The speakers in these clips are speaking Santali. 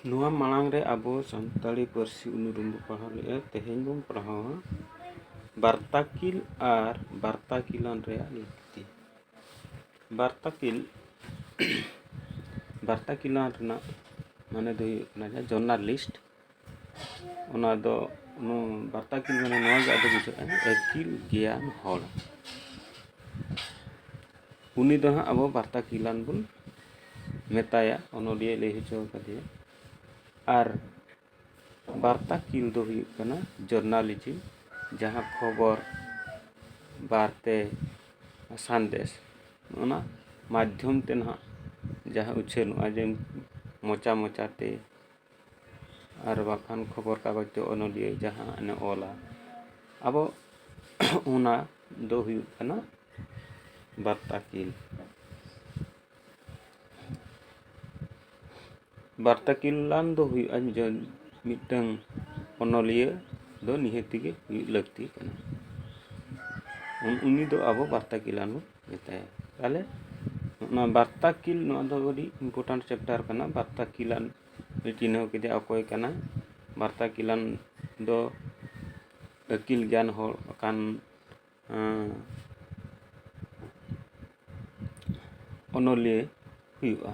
ᱱᱚᱣᱟ ᱢᱟᱲᱟᱝ ᱨᱮ ᱟᱵᱚ ᱥᱟᱱᱛᱟᱲᱤ ᱯᱟᱹᱨᱥᱤ ᱩᱱᱩᱨᱩᱢ ᱵᱚᱱ ᱯᱟᱲᱦᱟᱣ ᱞᱮᱜᱼᱟ ᱛᱮᱦᱮᱧ ᱵᱚᱱ ᱯᱟᱲᱦᱟᱣᱟ ᱵᱟᱨᱛᱟᱠᱤᱞ ᱟᱨ ᱵᱟᱨᱛᱟᱠᱤᱞᱟᱱ ᱨᱮᱭᱟᱜ ᱞᱟᱹᱠᱛᱤ ᱵᱟᱨᱛᱟᱠᱤᱞ ᱵᱟᱨᱛᱟᱠᱤᱞᱟᱱ ᱨᱮᱱᱟᱜ ᱢᱟᱱᱮ ᱫᱚ ᱦᱩᱭᱩᱜ ᱠᱟᱱᱟ ᱡᱟᱦᱟᱸ ᱡᱚᱨᱱᱟᱞᱤᱥᱴ ᱚᱱᱟ ᱫᱚ ᱵᱟᱨᱛᱟ ᱠᱤᱞ ᱢᱟᱱᱮ ᱱᱚᱣᱟ ᱜᱮ ᱟᱫᱚ ᱵᱩᱡᱷᱟᱹᱜᱼᱟ ᱟᱹᱠᱤᱞ ᱜᱮᱭᱟᱱ ᱦᱚᱲ ᱩᱱᱤ ᱫᱚ ᱦᱟᱸᱜ ᱟᱵᱚ ᱵᱟᱨᱛᱟ ᱠᱤᱞᱟᱱ ᱵᱚᱱ ᱢᱮᱛᱟᱭᱟ ᱚᱱᱚᱞᱤᱭᱟᱹ ᱞᱟᱹᱭ ᱦᱚᱪᱚ ᱟᱠᱟᱫᱮᱭᱟ ᱟᱨ ᱵᱟᱨᱛᱟ ᱠᱤᱞ ᱫᱚ ᱦᱩᱭᱩᱜ ᱠᱟᱱᱟ ᱡᱚᱨᱱᱟᱞᱤᱡᱤᱢ ᱡᱟᱦᱟᱸ ᱠᱷᱚᱵᱚᱨ ᱵᱟᱨᱛᱮ ᱥᱟᱸᱫᱮᱥ ᱚᱱᱟ ᱢᱟᱫᱽᱫᱷᱚᱢ ᱛᱮ ᱱᱟᱦᱟᱜ ᱡᱟᱦᱟᱸ ᱩᱪᱷᱟᱹᱱᱚᱜᱼᱟ ᱡᱮ ᱢᱚᱪᱟ ᱢᱚᱪᱟᱛᱮ ᱟᱨ ᱵᱟᱝᱠᱷᱟᱱ ᱠᱷᱚᱵᱚᱨ ᱠᱟᱜᱚᱡᱽ ᱫᱚ ᱚᱱᱚᱞᱤᱭᱟᱹ ᱡᱟᱦᱟᱸ ᱚᱞᱟ ᱟᱵᱚ ᱚᱱᱟ ᱫᱚ ᱦᱩᱭᱩᱜ ᱠᱟᱱᱟ ᱵᱟᱨᱛᱟ ᱠᱤᱞ ᱵᱟᱨᱛᱟ ᱠᱤᱞᱟᱱ ᱫᱚ ᱦᱩᱭᱩᱜᱼᱟ ᱢᱤᱫᱴᱟᱝ ᱚᱱᱚᱞᱤᱭᱟᱹ ᱫᱚ ᱱᱤᱦᱟᱹᱛ ᱜᱮ ᱦᱩᱭᱩᱜ ᱞᱟᱹᱠᱛᱤ ᱠᱟᱱᱟ ᱩᱱᱤ ᱫᱚ ᱟᱵᱚ ᱵᱟᱨᱛᱟ ᱠᱤᱞᱟᱱ ᱵᱚᱱ ᱢᱮᱛᱟᱭᱟ ᱛᱟᱦᱚᱞᱮ ᱱᱚᱣᱟ ᱵᱟᱨᱛᱟ ᱠᱤᱞ ᱱᱚᱣᱟ ᱫᱚ ᱟᱹᱰᱤ ᱤᱢᱯᱚᱨᱴᱟᱱᱴ ᱪᱮᱯᱴᱟᱨ ᱠᱟᱱᱟ ᱵᱟᱨᱛᱟ ᱠᱤᱞᱟᱱ ᱪᱤᱱᱦᱟᱹᱣ ᱠᱮᱫᱮᱭᱟ ᱚᱠᱚᱭ ᱠᱟᱱᱟᱭ ᱵᱟᱨᱛᱟ ᱠᱤᱞᱟᱱ ᱫᱚ ᱟᱹᱠᱤᱞ ᱜᱮᱭᱟᱱ ᱦᱚᱲ ᱠᱟᱱ ᱚᱱᱚᱞᱤᱭᱟᱹ ᱦᱩᱭᱩᱜᱼᱟ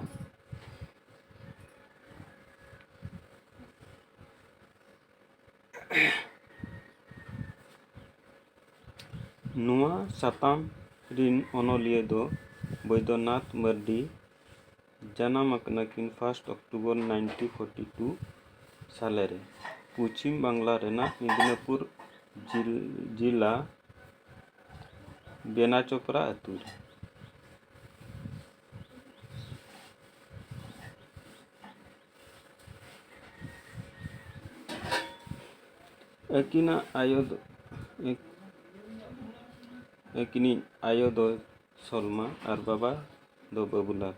ᱱᱚᱣᱟ ᱥᱟᱛᱟᱢ ᱨᱤᱱ ᱚᱱᱚᱞᱤᱭᱟᱹ ᱫᱚ ᱵᱚᱭᱫᱚᱱᱟᱛᱷ ᱢᱟᱹᱨᱰᱤ ᱡᱟᱱᱟᱢ ᱟᱠᱟᱱᱟ ᱠᱤᱱ first October nineteen forty two ᱥᱟᱞᱮ ᱨᱮ ᱯᱚᱪᱷᱤᱢ ᱵᱟᱝᱞᱟ ᱨᱮᱱᱟᱜ ᱢᱤᱫᱽᱱᱟᱯᱩᱨ ᱡᱤᱞᱟ ᱵᱮᱱᱟᱪᱚᱯᱨᱟ ᱟᱹᱛᱩ ᱨᱮ ᱟᱹᱠᱤᱱᱟᱜ ᱟᱭᱳ ᱫᱚ ᱟᱹᱠᱤᱱᱤᱡ ᱟᱭᱳ ᱫᱚ ᱥᱚᱞᱢᱟ ᱟᱨ ᱵᱟᱵᱟ ᱫᱚ ᱵᱟᱵᱩᱞᱟ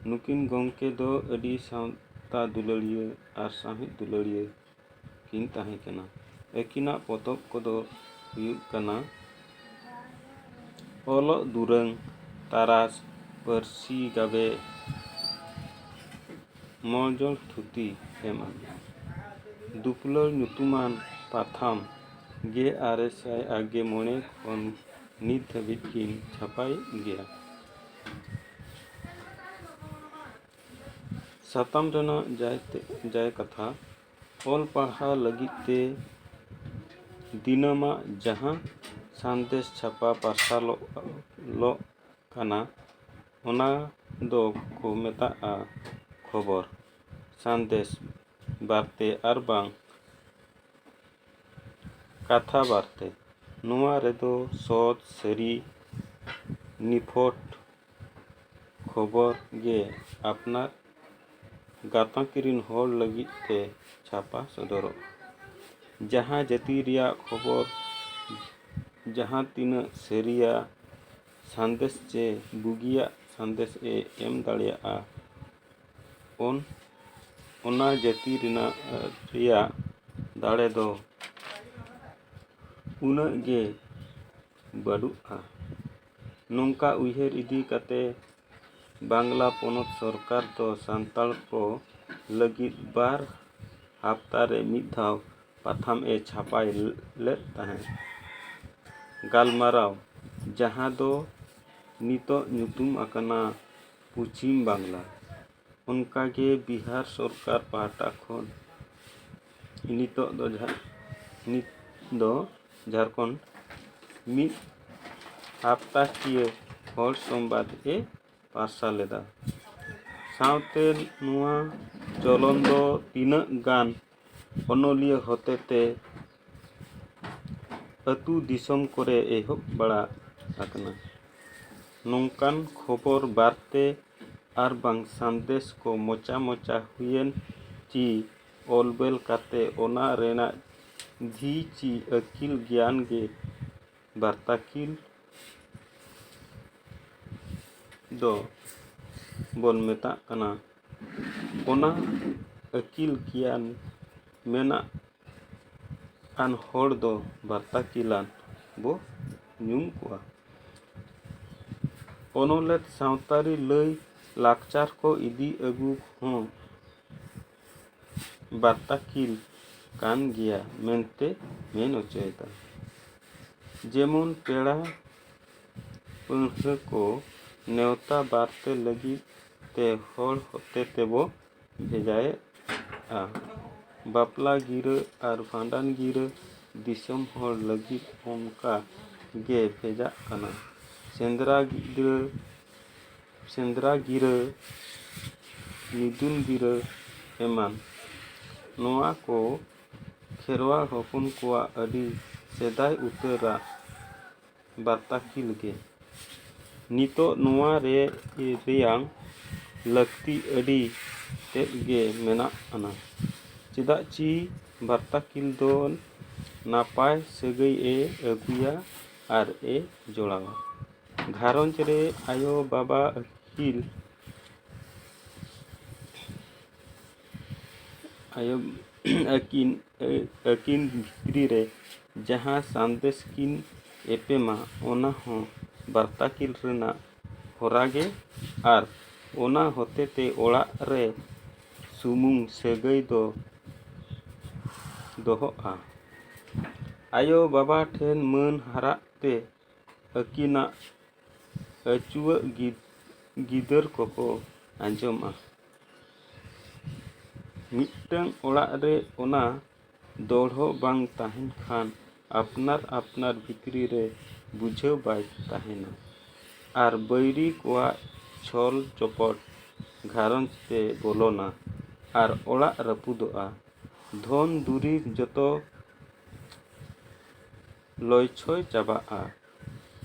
ᱱᱩᱠᱤᱱ ᱜᱚᱢᱠᱮ ᱫᱚ ᱟᱹᱰᱤ ᱥᱟᱶᱛᱟ ᱫᱩᱞᱟᱹᱲᱤᱭᱟᱹ ᱟᱨ ᱥᱟᱶᱦᱮᱫ ᱫᱩᱞᱟᱹᱲᱤᱭᱟᱹ ᱠᱤᱱ ᱛᱟᱦᱮᱸ ᱠᱟᱱᱟ ᱟᱹᱠᱤᱱᱟᱜ ᱯᱚᱛᱚᱵ ᱠᱚᱫᱚ ᱦᱩᱭᱩᱜ ᱠᱟᱱᱟ ᱚᱞᱚᱜ ᱫᱩᱨᱟᱹᱝ ᱛᱟᱨᱟᱥ ᱯᱟᱹᱨᱥᱤ ᱜᱟᱵᱮ ᱢᱚᱡᱚᱞ ᱛᱷᱩᱛᱤ ᱮᱢᱟᱱ ᱫᱩᱯᱞᱟᱹᱲ ᱧᱩᱛᱩᱢᱟᱱ ᱯᱟᱛᱷᱟᱢ ᱜᱮ ᱟᱨᱮ ᱥᱟᱭ ᱟᱨ ᱜᱮ ᱢᱚᱬᱮ ᱠᱷᱚᱱ ᱱᱤᱛ ᱫᱷᱟᱹᱵᱤᱡ ᱠᱤᱱ ᱪᱷᱟᱯᱟᱭᱮᱫ ᱜᱮᱭᱟ ᱥᱟᱛᱟᱢ ᱨᱮᱱᱟᱜ ᱡᱟᱭ ᱛᱮ ᱡᱟᱭ ᱠᱟᱛᱷᱟ ᱚᱞ ᱯᱟᱲᱦᱟᱣ ᱞᱟᱹᱜᱤᱫ ᱛᱮ ᱫᱤᱱᱟᱹᱢᱟᱜ ᱡᱟᱦᱟᱸ ᱥᱟᱸᱫᱮᱥ ᱪᱷᱟᱯᱟ ᱯᱟᱨᱥᱟᱞᱚᱜ ᱞᱚᱜ ᱠᱟᱱᱟ ᱚᱱᱟ ᱫᱚ ᱠᱚ ᱢᱮᱛᱟᱜᱼᱟ ᱠᱷᱚᱵᱚᱨ ᱥᱟᱸᱫᱮᱥ ᱵᱟᱨᱛᱮ ᱟᱨ ᱵᱟᱝ ᱠᱟᱛᱷᱟ ᱵᱟᱨᱛᱮ ᱱᱚᱣᱟ ᱨᱮᱫᱚ ᱥᱚᱛ ᱥᱟᱹᱨᱤ ᱱᱤᱯᱷᱩᱴ ᱠᱷᱚᱵᱚᱨ ᱜᱮ ᱟᱯᱱᱟᱨ ᱜᱟᱛᱟᱠ ᱨᱮᱱ ᱦᱚᱲ ᱞᱟᱹᱜᱤᱫ ᱛᱮ ᱪᱷᱟᱯᱟ ᱥᱚᱫᱚᱨᱚᱜᱼᱟ ᱡᱟᱦᱟᱸ ᱡᱟᱹᱛᱤ ᱨᱮᱭᱟᱜ ᱠᱷᱚᱵᱚᱨ ᱡᱟᱦᱟᱸ ᱛᱤᱱᱟᱹᱜ ᱥᱟᱹᱨᱤᱭᱟ ᱥᱟᱸᱫᱮᱥ ᱪᱮ ᱵᱩᱜᱤᱭᱟᱜ ᱥᱟᱸᱫᱮᱥ ᱮ ᱮᱢ ᱫᱟᱲᱮᱭᱟᱜᱼᱟ ᱩᱱ ᱚᱱᱟ ᱡᱟᱹᱛᱤ ᱨᱮᱱᱟᱜ ᱨᱮᱭᱟᱜ ᱫᱟᱲᱮ ᱫᱚ ᱩᱱᱟᱹᱜ ᱜᱮ ᱵᱟᱹᱱᱩᱜᱼᱟ ᱱᱚᱝᱠᱟ ᱩᱭᱦᱟᱹᱨ ᱤᱫᱤ ᱠᱟᱛᱮ ᱵᱟᱝᱞᱟ ᱯᱚᱱᱚᱛ ᱥᱚᱨᱠᱟᱨ ᱫᱚ ᱥᱟᱱᱛᱟᱲ ᱠᱚ ᱞᱟᱹᱜᱤᱫ ᱵᱟᱨ ᱦᱟᱯᱛᱟ ᱨᱮ ᱢᱤᱫ ᱫᱷᱟᱣ ᱯᱟᱛᱷᱟᱢ ᱮ ᱪᱷᱟᱯᱟᱭ ᱞᱮᱫ ᱛᱟᱦᱮᱸᱫ ᱜᱟᱞᱢᱟᱨᱟᱣ ᱡᱟᱦᱟᱸ ᱫᱚ ᱱᱤᱛᱚᱜ ᱧᱩᱛᱩᱢ ᱟᱠᱟᱱᱟ ᱯᱚᱪᱷᱤᱢ ᱵᱟᱝᱞᱟ ᱚᱱᱠᱟ ᱜᱮ ᱵᱤᱦᱟᱨ ᱥᱚᱨᱠᱟᱨ ᱯᱟᱦᱴᱟ ᱠᱷᱚᱱ ᱱᱤᱛᱚᱜ ᱫᱚ ᱡᱟᱦᱟᱸ ᱱᱤᱛ ᱫᱚ ᱡᱷᱟᱲᱠᱷᱚᱸᱰ ᱢᱤᱫ ᱦᱟᱯᱛᱟ ᱠᱤᱭᱟᱹ ᱦᱚᱲ ᱥᱚᱝᱵᱟᱫᱽ ᱮ ᱯᱟᱨᱥᱟᱞ ᱞᱮᱫᱟ ᱥᱟᱶᱛᱮ ᱱᱚᱣᱟ ᱪᱚᱞᱚᱱ ᱫᱚ ᱛᱤᱱᱟᱹᱜ ᱜᱟᱱ ᱚᱱᱚᱞᱤᱭᱟᱹ ᱦᱚᱛᱮᱛᱮ ᱟᱹᱛᱩ ᱫᱤᱥᱚᱢ ᱠᱚᱨᱮ ᱮᱦᱚᱵ ᱵᱟᱲᱟ ᱟᱠᱟᱱᱟ ᱱᱚᱝᱠᱟᱱ ᱠᱷᱚᱵᱚᱨ ᱵᱟᱨᱛᱮ ᱟᱨ ᱵᱟᱝ ᱥᱟᱸᱫᱮᱥ ᱠᱚ ᱢᱚᱪᱟ ᱢᱚᱪᱟ ᱦᱩᱭᱮᱱ ᱠᱤ ᱚᱞ ᱵᱮᱞ ᱠᱟᱛᱮᱫ ᱚᱱᱟ ᱨᱮᱱᱟᱜ ᱫᱷᱤ ᱪᱤ ᱟᱹᱠᱤᱞ ᱜᱮᱭᱟᱱ ᱜᱮ ᱵᱟᱨᱛᱟᱠᱤᱞ ᱫᱚ ᱵᱚᱱ ᱢᱮᱛᱟᱜ ᱠᱟᱱᱟ ᱚᱱᱟ ᱟᱹᱠᱤᱞ ᱜᱮᱭᱟᱱ ᱢᱮᱱᱟᱜ ᱟᱱ ᱦᱚᱲ ᱫᱚ ᱵᱟᱨᱛᱟᱠᱤᱞᱟᱱ ᱵᱚ ᱧᱩᱢ ᱠᱚᱣᱟ ᱚᱱᱚᱞᱮᱫ ᱥᱟᱶᱛᱟᱨᱤ ᱞᱟᱹᱭ ᱞᱟᱠᱪᱟᱨ ᱠᱚ ᱤᱫᱤ ᱟᱹᱜᱩ ᱦᱚᱸ ᱵᱟᱛᱟᱠᱤᱞ ᱠᱟᱱ ᱜᱮᱭᱟ ᱢᱮᱱᱛᱮ ᱢᱮᱱ ᱚᱪᱚᱭᱮᱫᱟ ᱡᱮᱢᱚᱱ ᱯᱮᱲᱟ ᱯᱟᱹᱲᱦᱟᱹ ᱠᱚ ᱱᱮᱣᱛᱟ ᱵᱟᱨᱛᱮ ᱞᱟᱹᱜᱤᱫ ᱛᱮ ᱦᱚᱲ ᱦᱚᱛᱮ ᱛᱮᱵᱚ ᱵᱷᱮᱡᱟᱭᱮᱫᱼᱟ ᱵᱟᱯᱞᱟ ᱜᱤᱨᱟᱹ ᱟᱨ ᱵᱷᱟᱸᱰᱟᱱ ᱜᱤᱨᱟᱹ ᱫᱤᱥᱚᱢ ᱦᱚᱲ ᱞᱟᱹᱜᱤᱫ ᱚᱱᱠᱟ ᱜᱮ ᱵᱷᱮᱡᱟᱜ ᱠᱟᱱᱟ ᱥᱮᱸᱫᱽᱨᱟ ᱜᱤᱨᱟᱹ ᱥᱮᱸᱫᱽᱨᱟ ᱜᱤᱨᱟᱹ ᱢᱤᱫᱩᱱ ᱜᱤᱨᱟᱹ ᱮᱢᱟᱱ ᱱᱚᱣᱟ ᱠᱚ ᱠᱷᱮᱨᱣᱟᱲ ᱦᱚᱯᱚᱱ ᱠᱚᱣᱟᱜ ᱟᱹᱰᱤ ᱥᱮᱫᱟᱭ ᱩᱛᱟᱹᱨᱟᱜ ᱵᱟᱨᱛᱟᱠᱤᱞ ᱜᱮ ᱱᱤᱛᱚᱜ ᱱᱚᱣᱟ ᱨᱮ ᱨᱮᱭᱟᱝ ᱞᱟᱹᱠᱛᱤ ᱟᱹᱰᱤ ᱛᱮᱫ ᱜᱮ ᱢᱮᱱᱟᱜ ᱟᱱᱟ ᱪᱮᱫᱟᱜ ᱪᱤ ᱵᱟᱨᱛᱟᱠᱤᱞ ᱫᱚ ᱱᱟᱯᱟᱭ ᱥᱟᱹᱜᱟᱹᱭᱮ ᱟᱹᱜᱩᱭᱟ ᱟᱨ ᱮ ᱡᱚᱲᱟᱣᱟ ᱜᱷᱟᱨᱚᱸᱡᱽ ᱨᱮ ᱟᱭᱳ ᱵᱟᱵᱟ ᱟᱹᱠᱤᱱ ᱟᱭᱳ ᱟᱹᱠᱤᱱ ᱟᱹᱠᱤᱱ ᱵᱷᱤᱛᱨᱤ ᱨᱮ ᱡᱟᱦᱟᱸ ᱥᱟᱸᱫᱮᱥ ᱠᱤᱱ ᱮᱯᱮᱢᱟ ᱚᱱᱟ ᱦᱚᱸ ᱵᱟᱨᱛᱟ ᱠᱤᱱ ᱨᱮᱱᱟᱜ ᱦᱚᱨᱟ ᱜᱮ ᱟᱨ ᱚᱱᱟ ᱦᱚᱛᱮ ᱛᱮ ᱚᱲᱟᱜ ᱨᱮ ᱥᱩᱢᱩᱝ ᱥᱟᱹᱜᱟᱹᱭ ᱫᱚ ᱫᱚᱦᱚᱜᱼᱟ ᱟᱭᱳ ᱵᱟᱵᱟ ᱴᱷᱮᱱ ᱢᱟᱹᱱ ᱦᱟᱨᱟᱜ ᱛᱮ ᱟᱹᱠᱤᱱᱟᱜ ᱟᱹᱪᱩᱣᱟᱹᱜ ᱜᱤᱫᱟᱹᱨ ᱠᱚᱠᱚ ᱟᱸᱡᱚᱢᱟ ᱢᱤᱫᱴᱟᱹᱝ ᱚᱲᱟᱜ ᱨᱮ ᱚᱱᱟ ᱫᱚᱲᱦᱚ ᱵᱟᱝ ᱛᱟᱦᱮᱱ ᱠᱷᱟᱱ ᱟᱯᱱᱟᱨ ᱟᱯᱱᱟᱨ ᱵᱷᱤᱛᱨᱤ ᱨᱮ ᱵᱩᱡᱷᱟᱹᱣ ᱵᱟᱭ ᱛᱟᱦᱮᱱᱟ ᱟᱨ ᱵᱟᱹᱭᱨᱤ ᱠᱚᱣᱟᱜ ᱪᱷᱚᱞ ᱪᱚᱯᱚᱴ ᱜᱷᱟᱨᱚᱸᱡᱽ ᱛᱮ ᱵᱚᱞᱚᱱᱟ ᱟᱨ ᱚᱲᱟᱜ ᱨᱟᱹᱯᱩᱫᱚᱜᱼᱟ ᱫᱷᱚᱱ ᱫᱩᱨᱤᱵᱽ ᱡᱚᱛᱚ ᱞᱚᱭᱪᱷᱚᱭ ᱪᱟᱵᱟᱜᱼᱟ᱾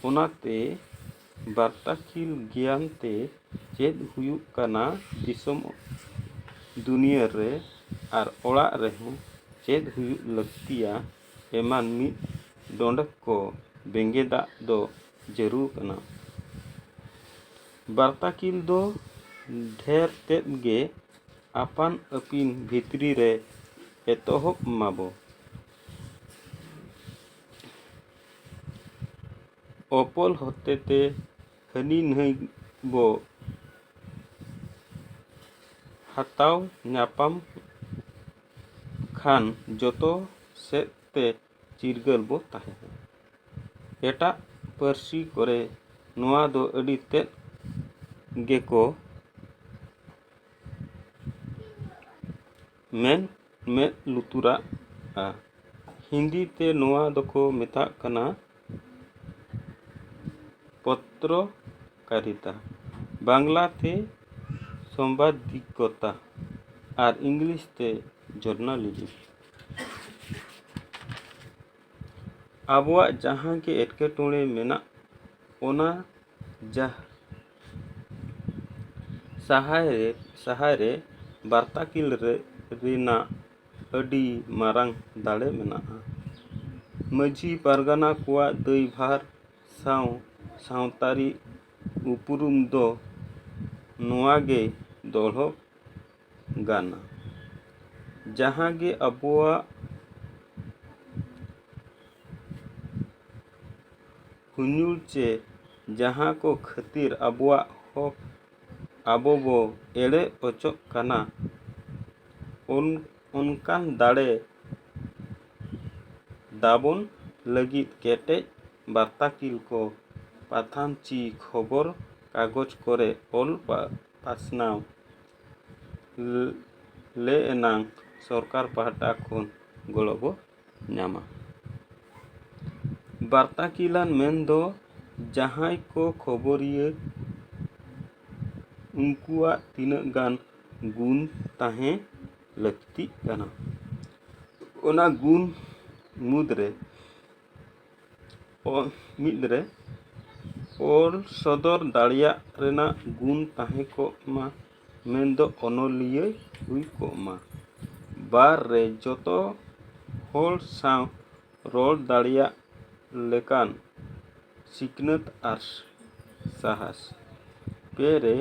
ᱚᱱᱟᱛᱮ ᱵᱟᱨᱴᱟᱠᱤᱞ ᱜᱮᱭᱟᱱ ᱛᱮ ᱪᱮᱫ ᱦᱩᱭᱩᱜ ᱠᱟᱱᱟ ᱫᱤᱥᱚᱢ ᱫᱩᱱᱤᱭᱟᱹ ᱨᱮ ᱟᱨ ᱚᱲᱟᱜ ᱨᱮᱦᱚᱸ ᱪᱮᱫ ᱦᱩᱭᱩᱜ ᱞᱟᱹᱠᱛᱤᱭᱟ ᱮᱢᱟᱱ ᱢᱤᱫ ᱰᱚᱸᱰᱮᱠ ᱠᱚ ᱵᱮᱸᱜᱮᱫᱟᱜ ᱫᱚ ᱡᱟᱹᱨᱩᱲ ᱠᱟᱱᱟ᱾ ᱵᱟᱨᱴᱟᱠᱤᱞ ᱫᱚ ᱰᱷᱮᱨ ᱛᱮᱫ ᱜᱮ ᱟᱯᱟᱱ ᱟᱹᱯᱤᱱ ᱵᱷᱤᱛᱨᱤ ᱨᱮ ᱮᱛᱚᱦᱚᱵ ᱢᱟᱵᱚ᱾ ᱚᱯᱚᱞ ᱦᱚᱛᱮᱛᱮ ᱦᱟᱹᱱᱤ ᱱᱟᱹᱭ ᱵᱚ ᱦᱟᱛᱟᱣ ᱧᱟᱯᱟᱢ ᱠᱷᱟᱱ ᱡᱚᱛᱚ ᱥᱮᱫ ᱛᱮ ᱪᱤᱨᱜᱟᱹᱞ ᱵᱚ ᱛᱟᱦᱮᱱᱟ ᱮᱴᱟᱜ ᱯᱟᱹᱨᱥᱤ ᱠᱚᱨᱮ ᱱᱚᱣᱟ ᱫᱚ ᱟᱹᱰᱤ ᱛᱮᱫ ᱜᱮᱠᱚ ᱢᱮᱫ ᱢᱮᱫ ᱞᱩᱛᱩᱨᱟᱜᱼᱟ ᱦᱤᱱᱫᱤ ᱛᱮ ᱱᱚᱣᱟ ᱫᱚᱠᱚ ᱢᱮᱛᱟᱜ ᱠᱟᱱᱟ ᱯᱚᱛᱨᱚ ᱠᱟᱨᱤᱛᱟ ᱵᱟᱝᱞᱟ ᱛᱮ ᱥᱚᱢᱵᱟᱫᱤᱠᱚᱛᱟ ᱟᱨ ᱤᱝᱞᱤᱥ ᱛᱮ ᱡᱚᱨᱱᱟᱞᱤᱡᱤᱢ ᱟᱵᱚᱣᱟᱜ ᱡᱟᱦᱟᱸ ᱜᱮ ᱮᱴᱠᱮᱴᱚᱬᱮ ᱢᱮᱱᱟᱜ ᱚᱱᱟ ᱥᱟᱦᱟᱨ ᱨᱮ ᱥᱟᱦᱟᱨ ᱨᱮ ᱵᱟᱨᱛᱟ ᱠᱤᱞ ᱨᱮ ᱨᱮᱱᱟᱜ ᱟᱹᱰᱤ ᱢᱟᱨᱟᱝ ᱫᱟᱲᱮ ᱢᱮᱱᱟᱜᱼᱟ ᱢᱟᱹᱡᱷᱤ ᱯᱟᱨᱜᱟᱱᱟ ᱠᱚᱣᱟᱜ ᱫᱟᱹᱭᱵᱷᱟᱨ ᱥᱟᱶ ᱥᱟᱶᱛᱟᱨᱤ ᱩᱯᱨᱩᱢ ᱫᱚ ᱱᱚᱣᱟ ᱜᱮ ᱫᱚᱦᱚ ᱜᱟᱱᱟ ᱡᱟᱦᱟᱸ ᱜᱮ ᱟᱵᱚᱣᱟᱜ ᱦᱩᱧᱩᱲ ᱪᱮ ᱡᱟᱦᱟᱸ ᱠᱚ ᱠᱷᱟᱹᱛᱤᱨ ᱟᱵᱚᱣᱟᱜ ᱦᱚᱠ ᱟᱵᱚ ᱵᱚ ᱮᱲᱮ ᱚᱪᱚᱜ ᱠᱟᱱᱟ ᱩᱱ ᱚᱱᱠᱟᱱ ᱫᱟᱲᱮ ᱫᱟᱵᱚᱱ ᱞᱟᱹᱜᱤᱫ ᱠᱮᱴᱮᱡ ᱵᱟᱨᱛᱟᱠᱤᱞ ᱠᱚ ᱯᱟᱛᱷᱟᱢ ᱪᱤ ᱠᱷᱚᱵᱚᱨ ᱠᱟᱜᱚᱡᱽ ᱠᱚᱨᱮ ᱚᱞ ᱯᱟᱥᱱᱟᱣ ᱞᱮ ᱮᱱᱟᱝ ᱥᱚᱨᱠᱟᱨ ᱯᱟᱦᱴᱟ ᱠᱷᱚᱱ ᱜᱚᱲᱚ ᱵᱚ ᱧᱟᱢᱟ᱾ ᱵᱟᱨᱛᱟᱠᱤᱞᱟᱱ ᱢᱮᱱ ᱫᱚ ᱡᱟᱦᱟᱸᱭ ᱠᱚ ᱠᱷᱚᱵᱚᱨᱤᱭᱟᱹ ᱩᱱᱠᱩᱣᱟᱜ ᱛᱤᱱᱟᱹᱜ ᱜᱟᱱ ᱜᱩᱱ ᱛᱟᱦᱮᱸ ᱞᱟᱹᱠᱛᱤᱜ ᱠᱟᱱᱟ᱾ ᱚᱱᱟ ᱜᱩᱱ ᱢᱩᱫᱽ ᱨᱮ ᱢᱤᱫ ᱨᱮ ᱚᱞ ᱥᱚᱫᱚᱨ ᱫᱟᱲᱮᱭᱟᱜ ᱨᱮᱱᱟᱜ ᱜᱩᱱ ᱛᱟᱦᱮᱸ ᱠᱚᱜ ᱢᱟ᱾ ᱢᱮᱱᱫᱚ ᱚᱱᱚᱞᱤᱭᱟᱹᱭ ᱦᱩᱭ ᱠᱚᱜ ᱢᱟ ᱵᱟᱨ ᱨᱮ ᱡᱚᱛᱚ ᱦᱚᱲ ᱥᱟᱶ ᱨᱚᱲ ᱫᱟᱲᱮᱭᱟᱜ ᱞᱮᱠᱟᱱ ᱥᱤᱠᱷᱱᱟᱹᱛ ᱟᱨ ᱥᱟᱦᱟᱥ ᱯᱮ ᱨᱮ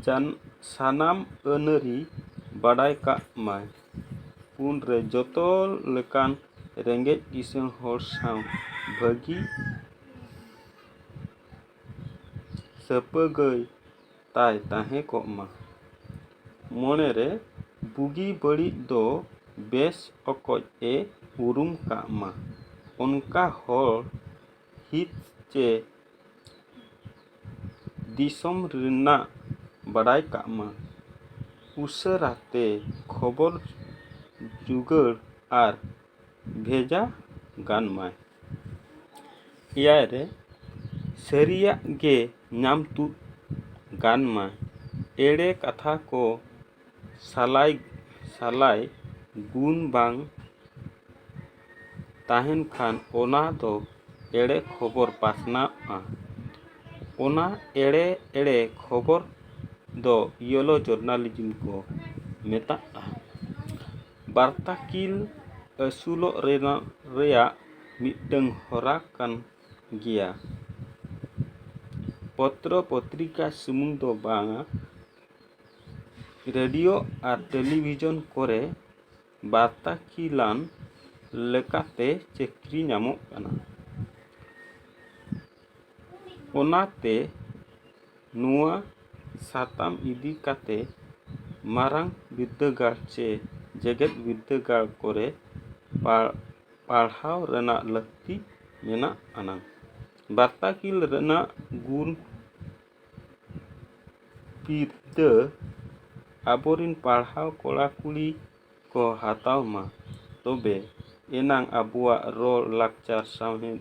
ᱡᱟᱱ ᱥᱟᱱᱟᱢ ᱟᱹᱱᱟᱹᱨᱤ ᱵᱟᱰᱟᱭ ᱠᱟᱜ ᱢᱟᱭ ᱯᱩᱱ ᱨᱮ ᱡᱚᱛᱚ ᱞᱮᱠᱟᱱ ᱨᱮᱸᱜᱮᱡ ᱠᱤᱥᱟᱹᱬ ᱦᱚᱲ ᱥᱟᱶ ᱵᱷᱟᱹᱜᱤ ᱥᱟᱹᱯᱟᱹᱜᱟᱹᱭ ᱛᱟᱭ ᱛᱟᱦᱮᱸ ᱠᱚᱜ ᱢᱟ᱾ ᱢᱚᱱᱮ ᱨᱮ ᱵᱩᱜᱤ ᱵᱟᱹᱲᱤᱡ ᱫᱚ ᱵᱮᱥ ᱚᱠᱚᱡ ᱮ ᱩᱨᱩᱢ ᱠᱟᱜ ᱢᱟ᱾ ᱚᱱᱠᱟ ᱦᱚᱲ ᱦᱤᱛ ᱪᱮ ᱫᱤᱥᱚᱢ ᱨᱮᱱᱟᱜ ᱵᱟᱰᱟᱭ ᱠᱟᱜ ᱢᱟ᱾ ᱩᱥᱟᱹᱨᱟ ᱛᱮ ᱠᱷᱚᱵᱚᱨ ᱡᱩᱜᱟᱹᱲ ᱟᱨ ᱵᱷᱮᱡᱟ ᱜᱟᱱ ᱢᱟᱭ ᱮᱭᱟᱭ ᱨᱮ ᱥᱟᱹᱨᱤᱭᱟᱜ ᱜᱮ ᱧᱟᱢ ᱛᱩᱫ ᱜᱟᱱ ᱢᱟ ᱮᱲᱮ ᱠᱟᱛᱷᱟ ᱠᱚ ᱥᱟᱞᱟᱭ ᱥᱟᱞᱟᱭ ᱜᱩᱱ ᱵᱟᱝ ᱛᱟᱦᱮᱱ ᱠᱷᱟᱱ ᱚᱱᱟ ᱫᱚ ᱮᱲᱮ ᱠᱷᱚᱵᱚᱨ ᱯᱟᱥᱱᱟᱜᱼᱟ ᱚᱱᱟ ᱮᱲᱮ ᱮᱲᱮ ᱠᱷᱚᱵᱚᱨ ᱫᱚ ᱤᱭᱳᱞᱳ ᱡᱚᱨᱱᱟᱞᱤᱡᱤᱢ ᱠᱚ ᱢᱮᱛᱟᱜᱼᱟ ᱵᱟᱨᱛᱟᱠᱤᱞ ᱟᱹᱥᱩᱞᱚᱜ ᱨᱮᱱᱟᱜ ᱨᱮᱭᱟᱜ ᱢᱤᱫᱴᱟᱹᱝ ᱦᱚᱨᱟ ᱠᱟᱱ ᱜᱮᱭᱟ ᱯᱚᱛᱨᱚ ᱯᱚᱛᱨᱤᱠᱟ ᱥᱩᱢᱩᱝ ᱫᱚ ᱵᱟᱝᱟ ᱨᱮᱰᱤᱭᱳ ᱟᱨ ᱴᱮᱞᱤᱵᱷᱤᱡᱚᱱ ᱠᱚᱨᱮ ᱵᱟᱨᱛᱟᱠᱤᱞᱟᱱ ᱞᱮᱠᱟᱛᱮ ᱪᱟᱹᱠᱨᱤ ᱧᱟᱢᱚᱜ ᱠᱟᱱᱟ ᱚᱱᱟᱛᱮ ᱱᱚᱣᱟ ᱥᱟᱛᱟᱢ ᱤᱫᱤ ᱠᱟᱛᱮ ᱢᱟᱨᱟᱝ ᱵᱤᱨᱫᱟᱹᱜᱟᱲ ᱪᱮ ᱡᱮᱜᱮᱛ ᱵᱤᱨᱫᱟᱹᱜᱟᱲ ᱠᱚᱨᱮ ᱯᱟᱲᱦᱟᱣ ᱨᱮᱱᱟᱜ ᱞᱟᱹᱠᱛᱤ ᱢᱮᱱᱟᱜ ᱟᱱᱟᱝ ᱵᱟᱨᱛᱟ ᱠᱤᱞ ᱨᱮᱱᱟᱜ ᱜᱩᱱ ᱵᱤᱨᱫᱟᱹ ᱟᱵᱚᱨᱮᱱ ᱯᱟᱲᱦᱟᱣ ᱠᱚᱲᱟ ᱠᱩᱲᱤ ᱠᱚ ᱦᱟᱛᱟᱣ ᱢᱟ ᱛᱚᱵᱮ ᱮᱱᱟᱝ ᱟᱵᱚᱣᱟᱜ ᱨᱚᱲ ᱞᱟᱠᱪᱟᱨ ᱥᱟᱶᱦᱮᱫ